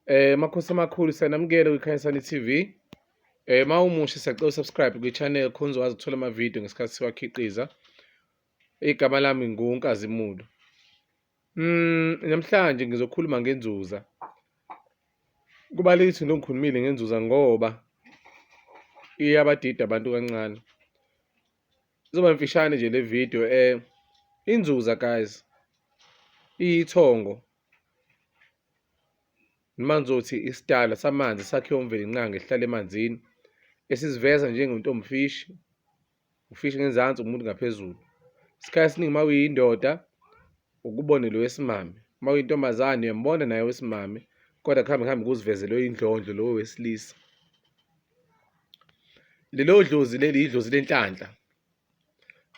Eh makhosi amakhulu siyanamukela kwiKhanyisani TV. Eh mawumusha siyacela subscribe kwichannel khonzo wazi uthola ama video ngesikhathi siwakhiqiza. Igama lami nguNkazimulo. Mm namhlanje ngizokhuluma ngenzuza. Kubalekile into ngikhulumile ngenzuza ngoba iyabadida abantu kancane. Izoba mfishane nje le video eh inzuza guys iyithongo noma ngizothi isidala samanzi sakhiwa umvelinqangi esihlala emanzini esiziveza njengentombifishi ufishi ngenzansi umuntu ngaphezulu isikhathi esiningi uma uyindoda ukubone lo wesimame uma uyintombazane uyambona naye wesimame kodwa kuhambe kuhambe kuzivezele oyindlondlo lowo wesilisa lelo dlozi leli yidlozi lenhlanhla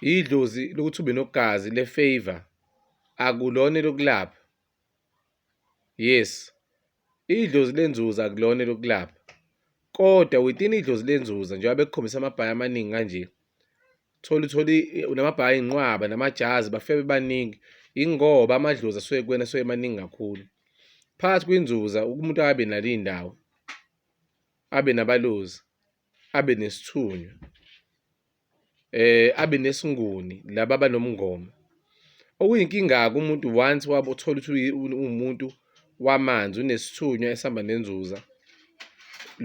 yidlozi lokuthi ube nogazi le-favor akulona elokulapha Yes, idlozi lenzuzo akulona elokulapha kodwa within idlozi lenzuzo njengoba bekukhombisa amabhayi amaningi kanje thola uthole namabhayi inqwaba namajazi bafike bebaningi ingoba amadlozi asuke kuwena asuke emaningi kakhulu phakathi kwinzuza umuntu akabe nalo iy'ndawo abe nabalozi abe nesithunywa eh abe nesinguni laba banomngoma okuyinkinga-ke umuntu once wabo uthola ukuthi uwumuntu wamanzi unesithunywa esihamba nenzuza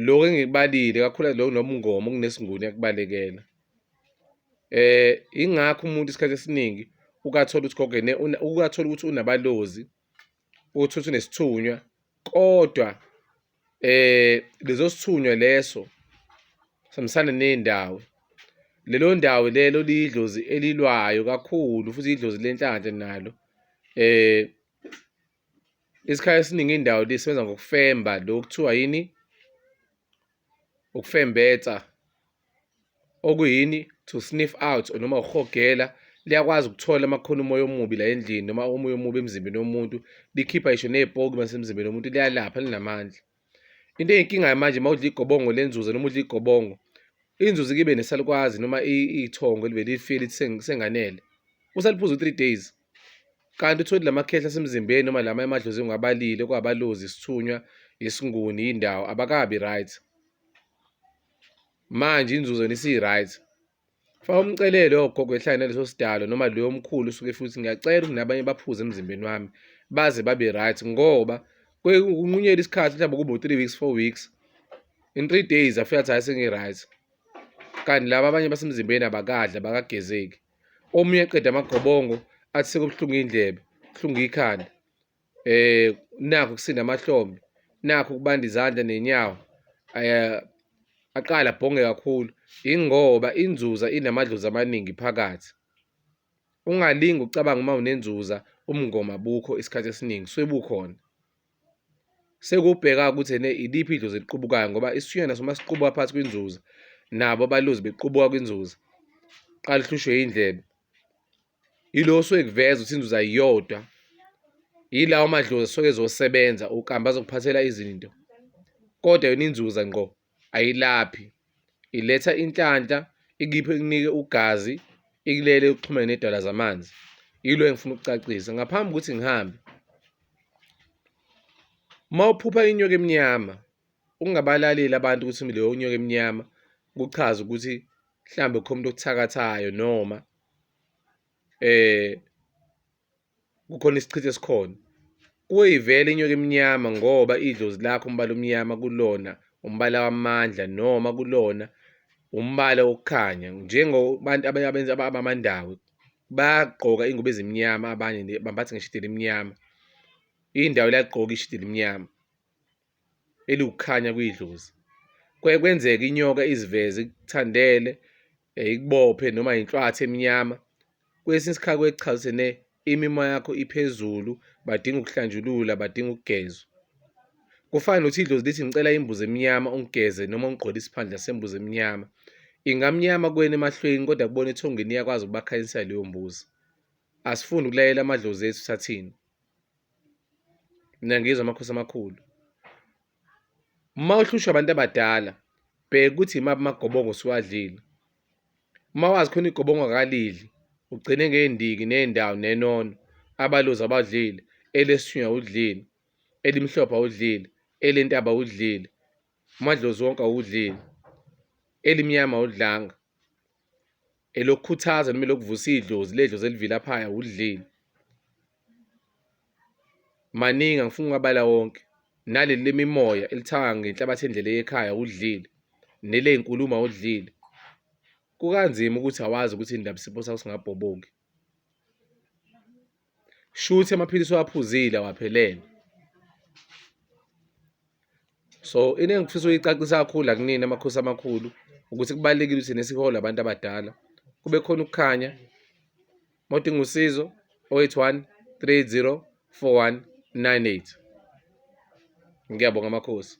lokho engikubalile kakhulu lokho nomngoma okunesinguni yakubalekela eh ingakho umuntu isikhathi esiningi ukathola ukuthi gogo ukathola ukuthi unabalozi uthi uthi nesithunywa kodwa eh lezo sithunywa leso samsana nendawo lelo ndawo lelo liyidlozi elilwayo kakhulu futhi idlozi lenhlanhla nalo eh isikhathi esiningi indawo lisebenza ngokufemba lokuthiwa yini ukufembetsa okuyini to sniff out noma ukuhogela liyakwazi ukuthola amakhona umoya omubi la endlini noma umoya omubi emzimbeni womuntu likhipha isho nezipoki masemzimbeni womuntu liyalapha linamandla into eyinkinga manje mawudla igobongo lenzuza noma udla igobongo inzuza kibe nesalukwazi noma ithongo libe lifile lithi senganele usaliphuza u3 days kanti utholi lamakhehla asemzimbeni noma lama emadlozi ngabalile kwabalozi isithunywa isinguni indawo abakabi right manje inzuzo nisi-right faka umcelele ogogo ehlale naleso sidalo noma loyo omkhulu usuke futhi ngiyacela ukuthi nabanye baphuze emzimbeni wami baze babe right ngoba kunqunyela isikhathi mhlawumbe kube u-three weeks four weeks in three days afika athi hayi sengi-right kanti laba abanye basemzimbeni abakadla bakagezeki omunye eqeda amagobongo athi sekubuhlungu iy'ndlebe kuhlungu ikhanda eh nakho kusinda amahlombe nakho kubanda izandla nenyawo eh aqala bhonge kakhulu ingoba inzuza inamadlozi amaningi phakathi ungalingi ucabanga uma unenzuza umngoma bukho isikhathi esiningi sebukhona sekubheka ukuthi ene iliphi idlozi eliqubukayo ngoba isiyona soma siqubuka phansi kwinzuza nabo abaluzi bequbuka kwinzuza qala uhlushwe indlebe Yilo osuke ekuveza ukuthi inzuza iyodwa, yilawo madlozi asuke ezosebenza ukambe azokuphathela izinto kodwa yona inzuza ngqo ayilaphi, iletha inhlanhla ikiphe ikunike ugazi, ikulele uxhumene nedwala zamanzi. Yilo engifuna ukucacisa ngaphambi kokuthi ngihambe. Uma uphupha inyoka emnyama ungabalaleli abantu ukuthi leyo nyoka emnyama kuchaza ukuthi mhlawumbe kukhona umuntu okuthakathayo noma. eh kukhona isichitho esikhona kuyivela inyoka emnyama ngoba idlozi lakho umbala omnyama kulona umbala wamandla noma kulona umbala wokukhanya njengobantu abenza abamandawe bagqoka ingubo ezimnyama abanye bambathe ngisho elimnyama indawo la gqoka ishithi elimnyama. eliwukukhanya kuyidlozi kuye kwenzeka inyoka iziveze ikuthandele eh, ikubophe noma inhlwathi emnyama kwesinye isikhathi kwechaza ukuthi ne imimoya yakho iphezulu badinga ukuhlanjulula badinga ukugezwa kufana nothi idlozi lithi ngicela imbuzi emnyama ungigeze noma ungigqole isiphandla sembuzi emnyama ingamnyama kuwena emahlweni kodwa kubona ethongeni iyakwazi ukubakhanyisela leyo mbuzi asifuni ukulayela amadlozi ethu sathini Niyangizwa amakhosi amakhulu. Uma uhlushwa abantu abadala, bheka ukuthi imaphi amagobongo siwadlile. Uma wazi khona igobongo akalidli, ugcine ngey'ndiki ney'ndawo nenono, abalozi abadlile, elesithunywa awudlile, elimhlophe awudlile, elentaba awudlile, umadlozi wonke awudlile, elimnyama awudlanga. elokukhuthaza noma elokuvusa idlozi ledlozi elivilaphaya udlile maningi angifuni ukubala wonke naleli lemimoya elithanga ngenhlabathi endlela eyekhaya udlile neleyinkulumo awudlile kukanzima ukuthi awazi ukuthi indaba isipho sakho singabhoboki shuthi amaphilisi owaphuzile awaphelele so into engifisa uyicacisa kakhulu la kunini amakhosi amakhulu ukuthi kubalulekile ukuthi nesihole abantu abadala kube khona ukukhanya modinga usizo 081 30 4198 ngiyabonga amakhosi